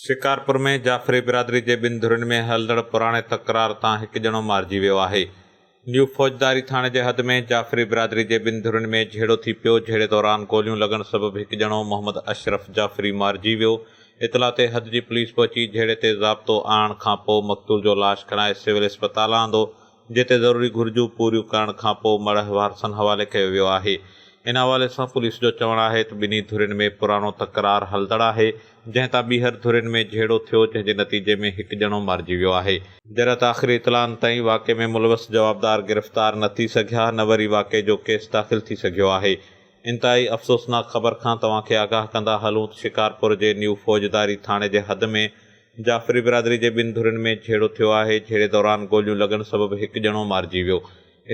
شڪارپور ۾ جعفري برادري جي ٻن ڌرين ۾ هلندڙ پراڻي تڪرار تان هڪ ڄڻو مارجي ويو آهي. نيو فوجداري ٿاڻي جي حد ۾ جعفري برادري جي ٻن ڌرين ۾ جهيڙو ٿي پيو، جهيڙي دوران گوليون لڳڻ سبب هڪ ڄڻو محمد اشرف جعفري مارجي ويو، اطلاع تي حد جي پوليس پهچي جهيڙي تي ضابطو آڻڻ کانپوء مقتول جو لاش کڻائي سول اسپتال آندو، جتي ضروري گهرجون پوريون ڪرڻ کانپوء مڙهه وارثن حوالي ڪيو ويو آهي. ان حوالي سان پوليس جو چوڻ آهي ته ٻنهي ڌرين ۾ پراڻو تڪرار هلندڙ آهي، جنهن تان ٻيهر ڌرين ۾ جهيڙو ٿيو، جنهن جي نتيجي ۾ هڪ ڄڻو مارجي ويو آهي. جڏهن ته آخري اطلاعن تائين واقعي ۾ ملوث جوابدار گرفتار نه ٿي سگهيا، نه وري واقعي جو ڪيس داخل ٿي سگهيو آهي. انتهائي افسوسناڪ خبر کان توهان کي آگاهه ڪندا هلون ته شڪارپور جي نيو فوجداري ٿاڻي جي حد ۾ جعفري برادري جي ٻن ڌرين ۾ جهيڙو ٿيو آهي، جهيڙي دوران گوليون لڳڻ سبب هڪ ڄڻو مارجي ويو.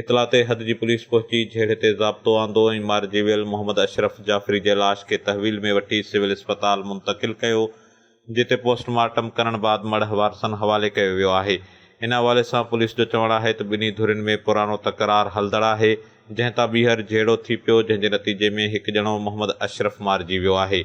اطلاع تي حد جي پوليس پهچي جهيڙي تي ضابطو آندو ۽ مارجي ويل محمد اشرف جعفري جي لاش کي تحويل ۾ وٺي سول اسپتال منتقل ڪيو، جتي پوسٽ مارٽم ڪرڻ بعد مڙهه وارثن حوالي ڪيو ويو آهي. ان حوالي سان پوليس جو چوڻ آهي ته ٻنهي ڌرين ۾ پراڻو تڪرار هلندڙ آهي، جنهن تان ٻيهر جهيڙو ٿي پيو، جنهن جي نتيجي ۾ هڪ ڄڻو محمد اشرف مارجي ويو آهي.